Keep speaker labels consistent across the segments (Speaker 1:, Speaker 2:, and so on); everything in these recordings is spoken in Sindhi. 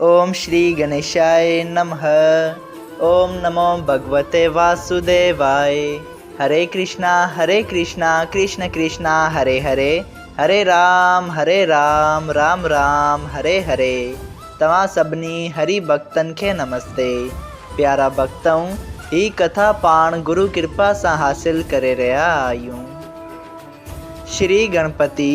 Speaker 1: اوم شري گنيشائي نمه اوم نمو ڀڳوتي واسوديوائي هري ڪرشنا هري ڪرشنا ڪرشنا ڪرشنا هري هري هري رام هري رام رام رام هري هري توهان سڀني هري ڀڳتن کي نمستي پيارا ڀڳتؤن هي ڪٿا پاڻ گرو ڪرپا سان حاصل ڪري رهيا آهيون شري گڻپتي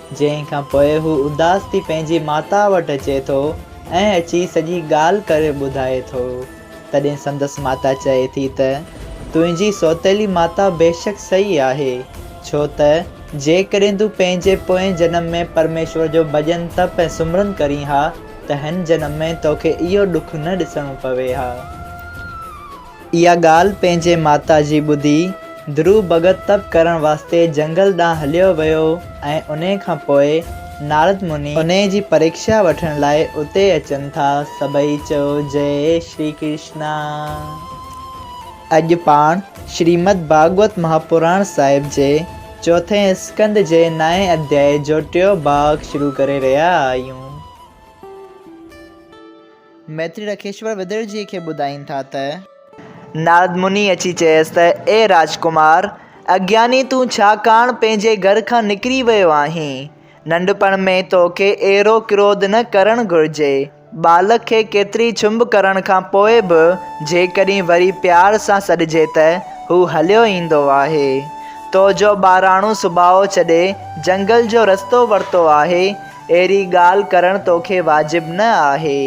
Speaker 1: جنهن کان پوء هو اداس ٿي پنهنجي ماتا وٽ اچي ٿو ۽ اچي سڄي ڳالهه ڪري ٻڌائي ٿو. تڏهن سندس ماتا چئي ٿي ته، تنهنجي سوتيلي ماتا بيشڪ سهي آهي، ڇو ته جيڪڏهن تون پنهنجي پوئين جنم ۾ پرميشور جو ڀڄن تپ ۽ سمرن ڪرين ها ته هن جنم ۾ توکي اهو ڏک نه ڏسڻو پوي ها. اها ڳالهه پنهنجي ماتا جي ٻڌي، ڌرو ڀڳت تپ ڪرڻ واسطي جنگل ڏانهن هليو ويو ۽ انهيء کان پوء نارد مني انهيء جي پريڪشا وٺڻ لاء اتي اچن ٿا. سڀئي چئو جئه شري ڪرشنا. اڄ پاڻ شريمد ڀاڳوت مهاپراڻ صاحب جي چوٿين اسڪنڌ جي نائين اڌيائي جو ٽيون ڀاڳ شروع ڪري رهيا آهيون. ميتري رکيشور ودرجيء کي ٻڌائين ٿا ته. نارد مني اچي چيس ته، اي راجڪمار! اگياني تون ڇا ڪاڻ پنهنجي گهر کان نڪري ويو آهين؟ ننڍپڻ ۾ تو کي اهڙو ڪروڌ نه ڪرڻ گهرجي. ٻالڪ کي ڪيتري ڇنڀ ڪرڻ کان پوء به جيڪڏهن وري پيار سان سڏجي ته هو هليو ايندو آهي. تو جو ٻاراڻو سڀاء ڇڏي جنگل جو رستو ورتو آهي، اهڙي ڳالهه ڪرڻ توکي واجب نه آهي.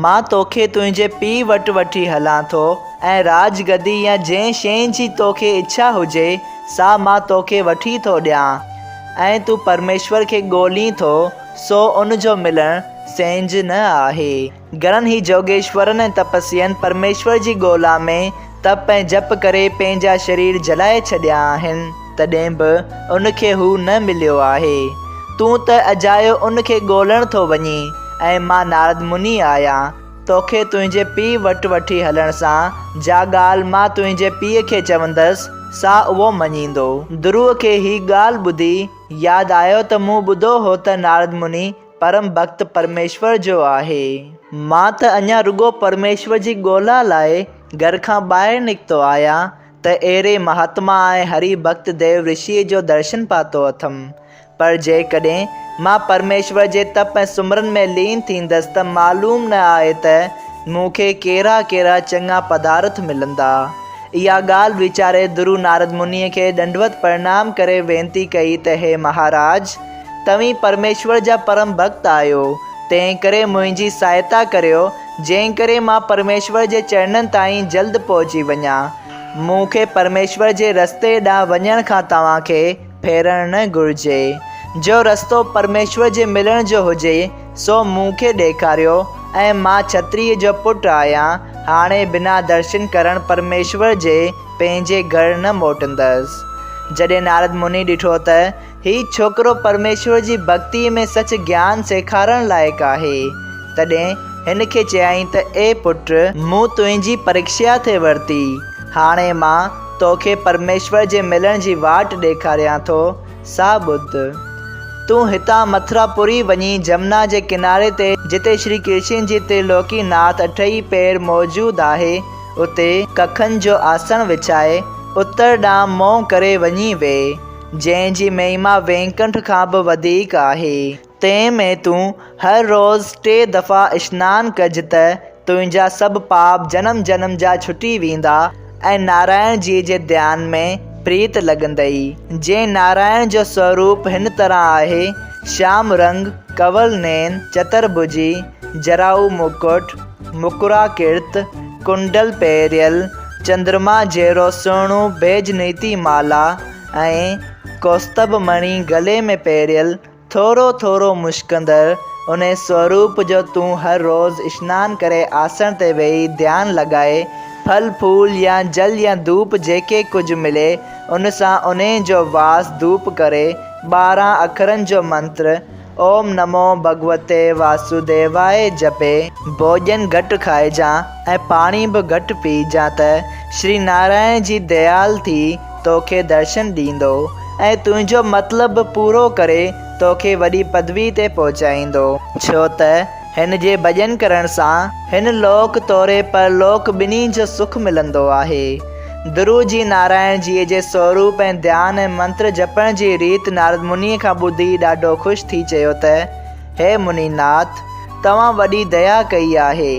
Speaker 1: مان توکي تنهنجي پيء وٽ وٺي هلان ٿو ۽ راڄ گدي يا جنهن شيء جي توکي اڇا هجي، سا مان توکي وٺي ٿو ڏيان. ۽ تون پرميشور کي ڳولين ٿو، سو ان جو ملڻ سينجهه نه آهي. گهڻن هي جوڳيشورن ۽ تپسين پرميشور جي ڳولا ۾ تپ ۽ جپ ڪري پنهنجا شرير جلائي ڇڏيا آهن، تڏهن به ان کي هو نه مليو آهي. تون ته اجايو ان کي ڳولڻ ٿو وڃين ۽ مان نارد مني آهيان، توکي تنهنجي پيء وٽ وٺي هلڻ سان جا ڳالهه مان تنهنجي پيء کي چوندس، سا اهو مڃيندو. درو کي هي ڳالهه ٻڌي ياد آيو ته مون ٻڌو هو ته نارد مني پرم ڀڳت پرميشور جو آهي. مان ته اڃا رڳو پرميشور جي ڳولا لاء گهر کان ٻاهر نڪتو آهيان ته اهڙي مهاتما ۽ هري ڀڳت ديو رشيء جو درشن پاتو اٿم. پر جيڪڏهن مان پرميشور جي تپ ۽ سمرن ۾ لين ٿيندس ته معلوم نه آهي ته مون کي ڪهڙا ڪهڙا چڱا پدارٿ ملندا. اها ڳالهه ويچاري درو نارد منيء کي ڏنڊوت پرڻام ڪري وينتي ڪئي ته هي مهاراج! توهين پرميشور جا پرم ڀڳت آهيو، تنهنڪري منهنجي سهائتا ڪريو، جنهنڪري مان پرميشور جي چرڻن تائين جلد پهچي وڃان. مون کي پرميشور جي رستي ڏانهن وڃڻ کان توهان کي ڦيرڻ نه گهرجي. جو رستو پرميشور جي ملڻ جو هجي، سو مون کي ڏيکاريو ۽ مان ڇتريء جو پٽ آهيان، هاڻي بنا درشن ڪرڻ پرميشور جي پنهنجي گهر نه موٽندس. جڏهن نارد مني ڏٺو ته، هي ڇوڪرو پرميشور جي ڀڳتيء ۾ سچ گيان سيکارڻ لائق آهي. تڏهن هن کي چيائين ته اي پٽ! مون تنهنجي پريکشا ٿي ورتي، هاڻي مان توکي پرميشور جي ملڻ جي واٽ ڏيکاريان ٿو، سا ٻڌ. تون هتان مٿرا پوري وڃي جمنا جي ڪناري تي جتي شري ڪرشن جي ترلوڪي ناٿ اٺئي پير موجود آهي، اتي ڪکن جو آسڻ وڇائي اتر ڏانهن منهن ڪري وڃي ويهه. جنهن جي مهما وينڪنٺ کان به وڌيڪ آهي. تنهن ۾ تون هر روز ٽي دفعا اشنان ڪج ته تنهنجا سڀ پاپ جنم جنم جا ڇٽي ويندا ۽ نارائڻ جيء جي ڌيان ۾ پريت لڳندئي. جنهن نارائڻ جو سوروپ هن طرح آهي، شيام رنگ، ڪنول نين، چترڀجي، جراهو مڪٽ، مڪرا ڪرت ڪنڊل پهريل، چندرما جهڙو سهڻو بيج نيتي مالا ۽ ڪوستڀ مڻي گلي ۾ پهريل، ٿورو ٿورو مشڪندڙ انهي سوروپ جو تون هر روز اشنان ڪري آسڻ تي ويهي ڌيان لڳائي، ڦل ڦول يا جل يا ڌوپ جيڪي ڪجهه ملي ان سان انهي جو واس ڌوپ ڪري، ٻارهن اکرن جو منتر، اوم نمو ڀڳوتي واسوديواء جپي. ڀوڄن گهٽ کائجان ۽ پاڻي به گهٽ پيئجان ته شري نارائڻ جي ديال ٿي توکي درشن ڏيندو ۽ تنهنجو مطلب به پورو ڪري توکي وڏي پدوي تي پهچائيندو. ڇو ته هن جي ڀڄن ڪرڻ سان هن لوڪ توري پر لوڪ ٻنهي جو سک ملندو آهي. درو جي نارائڻ جيء جي سوروپ ۽ ڌيان ۽ منتر جپڻ جي ريت نارد منيء کان ٻڌي ڏاڍو خوش ٿي چيو ته، هي مني ناٿ! توهان وڏي ديا ڪئي آهي،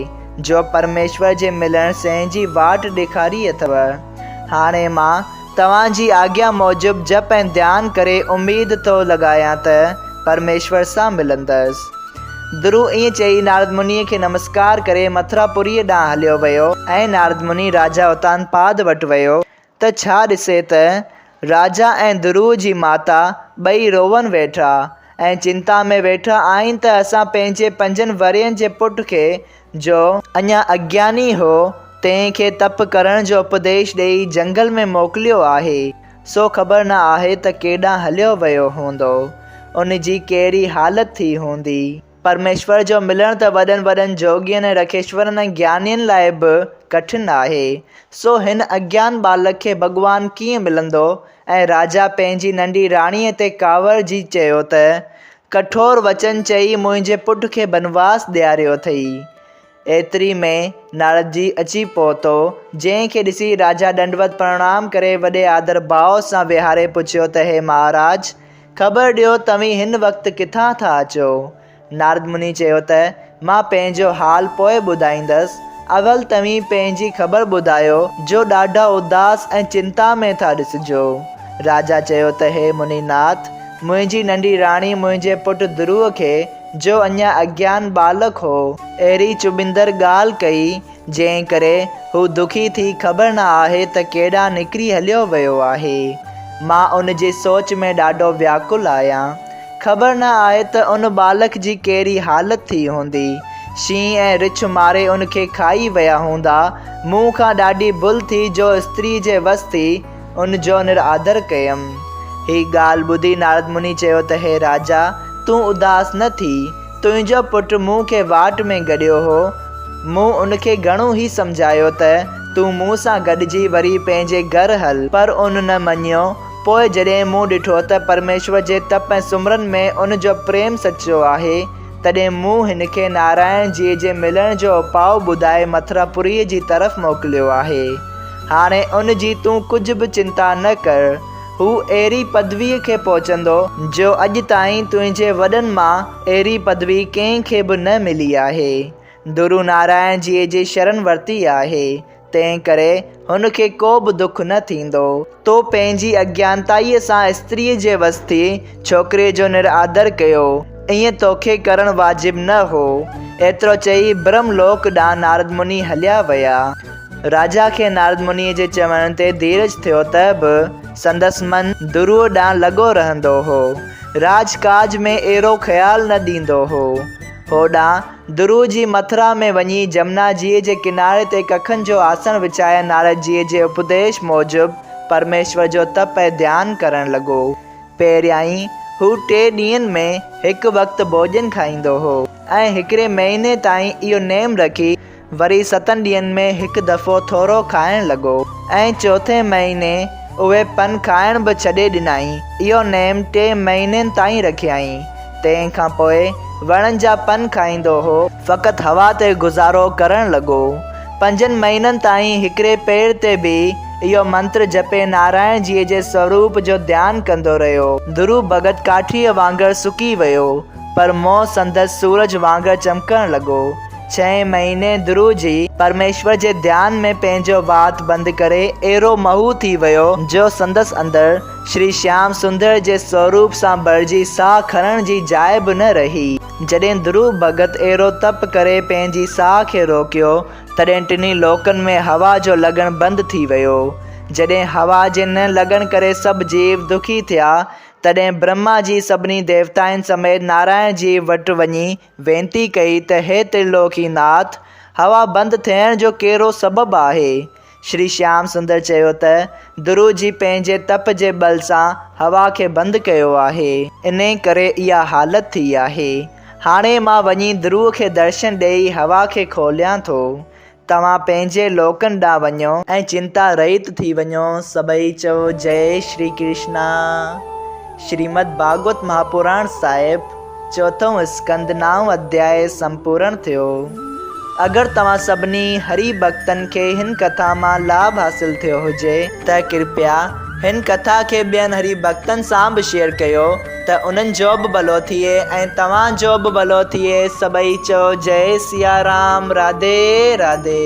Speaker 1: جو پرميشور جي ملڻ سين جي واٽ ڏيکاري اٿئو. هاڻي مان توهان جي آگيا موجب جپ ۽ ڌيان ڪري اميد ٿو لڳايان ته پرميشور سان ملندس. درو ائين چئي نارد منيء کي نمسڪار ڪري مٿرا پوريء ڏانهن هليو ويو ۽ نارد مني راجا اتانپاد وٽ ويو ته ڇا ڏسي ته راجا ۽ درو جي ماتا ٻئي روئن ويٺا ۽ چنتا ۾ ويٺا آهن ته اسان پنهنجي پنجن ورهين جي پٽ کي جو اڃا اگياني هو، تنهن کي تپ ڪرڻ جو اپديش ڏيئي جهنگل ۾ موڪليو آهي، سو خبر نه آهي ته ڪيڏانهن هليو ويو هوندو، ان جي ڪهڙي حالت ٿي هوندي. پرميشور جو ملڻ ته وڏن وڏن جوڳين ۽ رکيشورن ۽ گيانين لاء به ڪٺن آهي، سو هن اگيان ٻالڪ کي ڀڳوان ڪيئن ملندو؟ ۽ راجا پنهنجي ننڍي راڻيء تي ڪاوڙجي چيو ته، ڪٺور وچن چئي منهنجي پٽ کي بنواس ڏياريو اٿئي. ايتري ۾ ناردجي اچي پهتو، جنهن کي ڏسي راجا ڏنڊوت پرڻام ڪري وڏي آڌر ڀاء سان ويهاري پڇيو ته هي مهاراج! خبر ڏيو توهين هن وقت ڪٿان ٿا اچو؟ نارد مني چيو ته، مان پنهنجو حال پوء ٻڌائيندس، اول توهين پنهنجي خبر ٻڌايو جو ڏاڍا اداس ۽ چنتا ۾ ٿا ڏسجو. راجا چيو ته هي مني ناٿ، منهنجي ننڍي راڻي منهنجي پٽ ڌروء کي، جو اڃا اگيان ٻالڪ هو، اهڙي چڀندڙ ڳالهه ڪئي، جنهن ڪري هو دکي ٿي خبر نه آهي ته ڪيڏانهن نڪري هليو ويو آهي. مان ان جي سوچ ۾ ڏاڍو وياڪل آهيان. خبر نه آهي ته ان ٻالڪ جي ڪهڙي حالت ٿي هوندي. شينهن ۽ رڇ ماري ان کي کائي ويا هوندا. مون کان ڏاڍي ڀل ٿي جو استري جي وس ٿي. ان جو نرآڌر ڪيم. هي ڳالهه ٻڌي نارد مني چيو ته هي راجا! تون اداس نه ٿي. تنهنجو پٽ مون کي واٽ ۾ گڏيو هو. مون ان کي گهڻو هي سمجهايو ته تون مون سان گڏجي وري پنهنجي گهر هل. پر ان نه مڃيو. پوء جڏهن مون ڏٺو ته پرميشور جي تپ ۽ سمرن ۾ ان جو پريم سچو آهي، تڏهن مون هن کي نارائڻ جيء جي ملڻ جو اپاء ٻڌائي مٿراپوريء جي طرف موڪليو آهي. هاڻي ان جي تون ڪجهه به چنتا نه ڪر. هو اهڙي پدويء کي پهچندو، جو اڄ تائين تنهنجي وڏن مان اهڙي پدوي ڪنهن کي به نه ملي آهي. درو نارائڻ جيء جي شرن ورتي آهي. تنهن ڪري هن کي ڪو به دک نه ٿيندو. تو پنهنجي اجنانتائيء سان استريء جي وسطي ڇوڪريء جو نرآدر ڪيو. ائين توکي ڪرڻ واجب نه هو. ايترو چئي برهم لوڪ ڏانهن نارد مني هليا ويا. راجا کي نارد منيء جي چوڻ تي ڌيرج ٿيو ته به سندس من درو ڏانهن لڳو رهندو هو. راڄ ڪاج ۾ ايرو خيال نه ڏيندو هو. هوڏانهن درو جي مٿرا ۾ وڃي جمنا جيء جي ڪناري تي ڪکن جو آسڻ وڇائي نارد جيء جي اپديش موجب پرميشور جو تپ ۽ ڌيان ڪرڻ لڳو. پهريائين هو ٽي ڏينهن ۾ هڪ وقت ڀوڄن کائيندو هو ۽ هڪڙي مهيني تائين اهو نيم رکي وري ستن ڏينهن ۾ هڪ دفعو ٿورو کائڻ لڳو ۽ چوٿين مهيني اهي پن کائڻ به ڇڏي ڏنائين. اهو نيم ٽي مهينن تائين رکيائين. تنهن کان پوء وڻن جا پن کائيندو هو. فقط هوا تي گذارو ڪرڻ لڳو. پنجن مهينن تائين هڪڙي پير تي بيهي اهو منتر جپي نارائڻ جيء جي سوروپ جو ڌيان ڪندو رهيو. ڌرو ڀڳت ڪاٺيء وانگر سڪي ويو، پر منهن سندس سورج وانگر چمڪڻ لڳو. ڇهين مهيني ڌرو جي پرميشور جي ڌيان ۾ پنهنجو وات بند ڪري اهڙو محو ٿي ويو، جو سندس اندر شري شيام سندر جي سوروپ سان ڀرجي ساهه کڻڻ جي جاء به نه رهي. جڏهن ڌروو ڀڳت اهڙو تپ ڪري پنهنجي ساهه کي روڪيو، تڏهن ٽنهي لوڪن ۾ هوا جو لڳڻ بند ٿي ويو. جڏهن هوا جي نه لڳڻ ڪري سڀ جيو دکي ٿيا، تڏهن برهما جي سڀني ديوتائن سميت نارائڻ جي وٽ وڃي وينتي ڪئي ته هي ترلوڪي ناٿ، هوا بند ٿيڻ جو ڪهڙو سبب آهي؟ شري شيام سندر چيو ته، درو جي پنهنجي تپ جي ٻل سان هوا کي بند ڪيو آهي. انهي ڪري اها حالت ٿي آهي. هاڻي مان وڃي درو کي درشن ڏيئي هوا کي کوليان ٿو. توهان پنهنجي لوڪن ڏانهن وڃو. ۽ چنتا رهيت ٿي وڃو. سڀئي چئو جئي شري ڪرشنا. شريمد ڀاڳوت مهاپراڻ صاحب چوٿون اسڪنڌ نائون اڌياء سمپورڻ ٿيو. اگر توهان سڀني هري ڀڳتن کي هن ڪٿا مان لاڀ حاصل ٿيو هجي. ته ڪرپيا هن ڪٿا کي ٻين هري ڀڳتن سان به شيئر ڪيو. ته انهن جو به ڀلو ٿئي ۽ توهان جو به ڀلو ٿئي سڀئي چئو جئي سيارام راڌي راڌي.